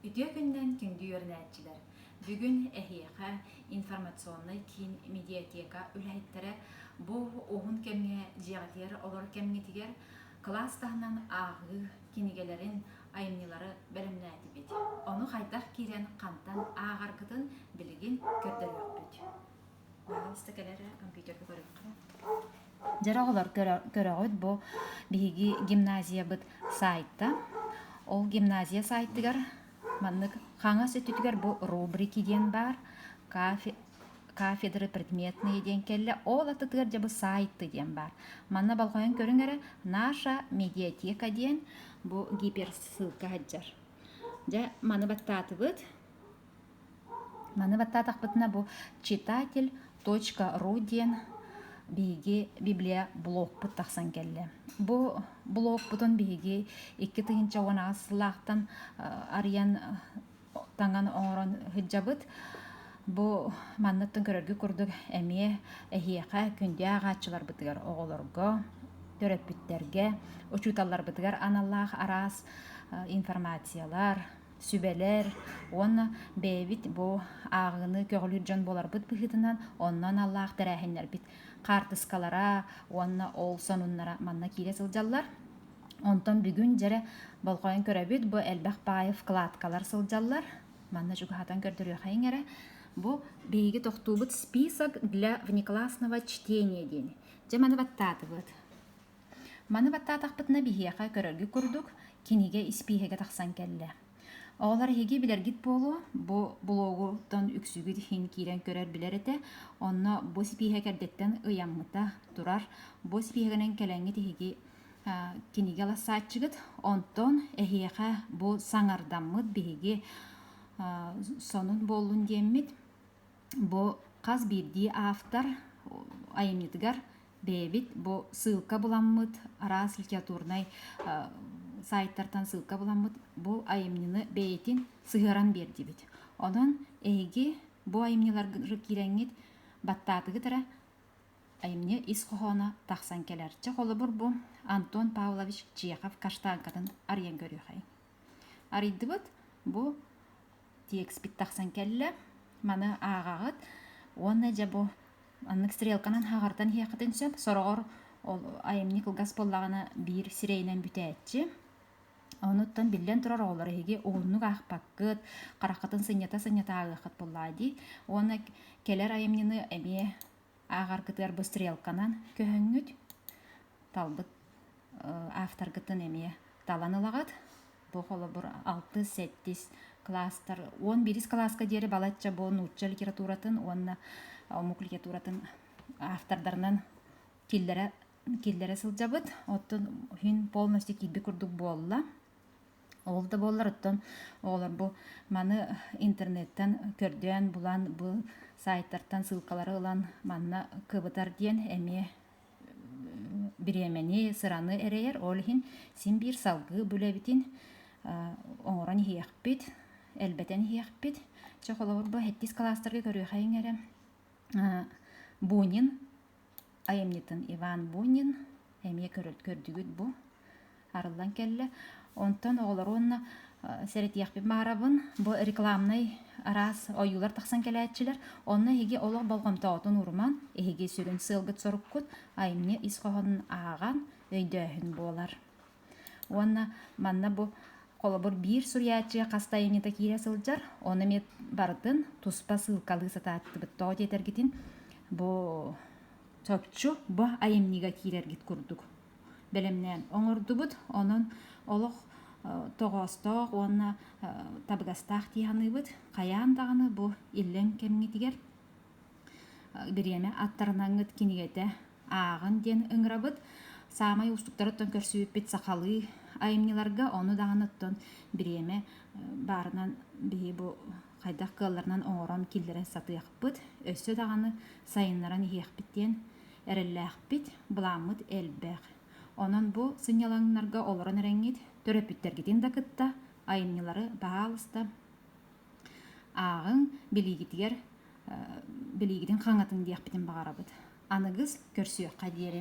Үтүө күннээн күндү үөрэнээччилэр! Бүгүн эһиэхэ информационнай киин медиатека үлэһиттэрэ бу уһун кэмҥэ дьиэҕитигэр олор кэмҥитигэр кылаас таһынан ааҕыы кинигэлэрин, айымньылары бэлэмнээтибит. Ону хайдах киирэн хантан ааҕаргытын билигин көрдөрүөхпүт. Пожалуйста, кэлэ эрэ, компьютерга көрүөххэ. Дьара оҕолор көрөҕүт бу биһиги гимназиябыт сайта. Ол гимназия сайтыгар маннык хаҥас өттүтүгэр бу рубрики диэн баар кафе кафедры предметные диэн кэллэ. Ол аттытыгар дьэ бу сайты диэн баар. Манна болҕойон көрүҥ эрэ наша медиатека диэн бу гиперссылка сылдьар. Дьэ, маны баттаатыбыт. Маны баттаатахпытына бу читатель точка ру диэн биһиги библиоблогпут тахсан кэллэ. Бу блогпутун биһиги икки тыһыынча уон аҕыс сыллаахтан арыйан таҥан оҥорон сылдьабыт. Бу манныктан көрөргүт курдук эмиэ эһиэхэ күндү ааҕааччыларбытыгар, оҕолорго, төрөппүттэргэ, учууталларбытыгар аналлаах араас информациялар, сүбэлэр уонна бэйэбит бу ааҕыыны көҕүлүүр дьон буоларбыт быһыытынан онно аналлаах тэрээһиннэрбит хаартыскалара уонна ол сонуннара манна киирэ сылдьаллар онтон бүгүн дьэрэ болҕойон көрөбүт бу элбэх баайы вкладкалар сылдьаллар манна чугаһатан көрдөрүөхэйиҥ эрэ бу биһиги тохтуубут список для внеклассного чтения диэни дьэ маны баттаатыбыт Маны баттаатахпытына биһиэхэ көрөргүт курдук, кинигэ испииһэгэ тахсан кэллэ. Оҕолор эһиги билэргит буолуо, бу блогуттан үксүгүт иһин киирэн көрөр-билэр этэ. Онно бу испииһэк эрдэттэн ыйаммыта турар. Бу испииһэгинэн кэлэҥҥит эһиги а, кинигэ ылассааччыгыт. Онтон эһиэхэ бу саҥардаммыт биһиги а, сонун буоллун диэммит. Бу хас биирдии автор айымньытыгар бэйэбит бу ссылка буламмыт араас литературнай саайтартан ссылка буламмыт бу айымньыны бэйэтин сыһыаран биэрдибит онон эһиги бу айымньыларга киирэҥҥит баттаатыгы тара айымньы ис хоһооно тахсан кэлэр чэ холобур бу антон павлович чехов каштанкатын арыйан көрүөхэй арыйдыбыт бу текстпит тахсан кэллэ маны ааҕаҕыт уонна дьэ бу аннык стрелканан хаҕартан иһиэххитин сөп сороҕор ол айымньы кылгас буоллаҕына биир сирэйинэн бүтээччи онуттан биллэн турар оҕолор эһиги уһуннук аахпаккыт хараххытын сынньата-сынньата ааҕыаххыт буоллаҕа дии уонна кэлэр айымньыны эмиэ ааҕар кытыарбы стрелканан көһүҥҥүт талбыт авторгыттан эмиэ талан ылаҕыт бу холобур алтыс сэттис кластар уон биирис кылааска диэри балачча бу нуучча литературатын уонна омук литературатын автордарынан киллэрэ киллэрэ сылдьабыт оттон күн полностью киирбит курдук буолла Ол да буоллар оттон оҕолор бу маны интернеттан көрдөөн булан бу саайтартан ссылкалары ылан манна кыбытар диэн эмиэ бириэмэни, сыраны эрэйэр. Ол иһин син биир салгыы булэбитин оҥорон иһиэхпит, элбэтэн иһиэхпит. Чэ, холобур бу хэттис кылаастарга көрүөхэйиҥ эрэ. Бунин айымньытын Иван Бунин эмиэ көрдүгүт бу арыллан кэллэ. Онтон оҕолор уонна сэрэтиэхпин баарабын. Бу рекламнай араас ойуулар тахсан кэлээччилэр. Онно эһиги олох болҕомтоҕутун уурумаҥ, эһиги сүрүн сыалгыт-соруккут айымньы ис хоһоонун ааҕан, өйдөөһүн буолар. Уонна манна бу холобур биир суруйааччы хас да айанньыта киирэ сылдьар, ону эмиэ барытын туспа сыылкалыы сатааттыбыт. Тоҕо диэтэргитин, бу чопчу бу айымньыга киирэргит курдук бэлэмнээн оҥордубут. Онон олох тоҕоостоох уонна табыгастаах дии саныыбыт. Хайаан даҕаны бу иллэҥ кэмҥитигэр бириэмэ аттарнаҥҥыт кинигэтэ ааҕын диэн ыҥырабыт саамай уустуктарыттан көрсүбүппүт сахалыы айымньыларга ону даҕаны оттон бириэмэ баарынан биһи бу хайдах кыалларынан оҥорон киллэрэн сатыахпыт өссө даҕаны сайыннаран иһиэхпит диэн эрэллээхпит былааммыт элбэх онон бу сынньалаҥнарга олорон эрэҥҥит төрөппүттэргитин да кытта айымньылары баһаалыста ааҕыҥ, билиигитигэр билиигитин хаҥатыҥ диэхпитин баҕарабыт. Аныгыс көрсүөххэ диэри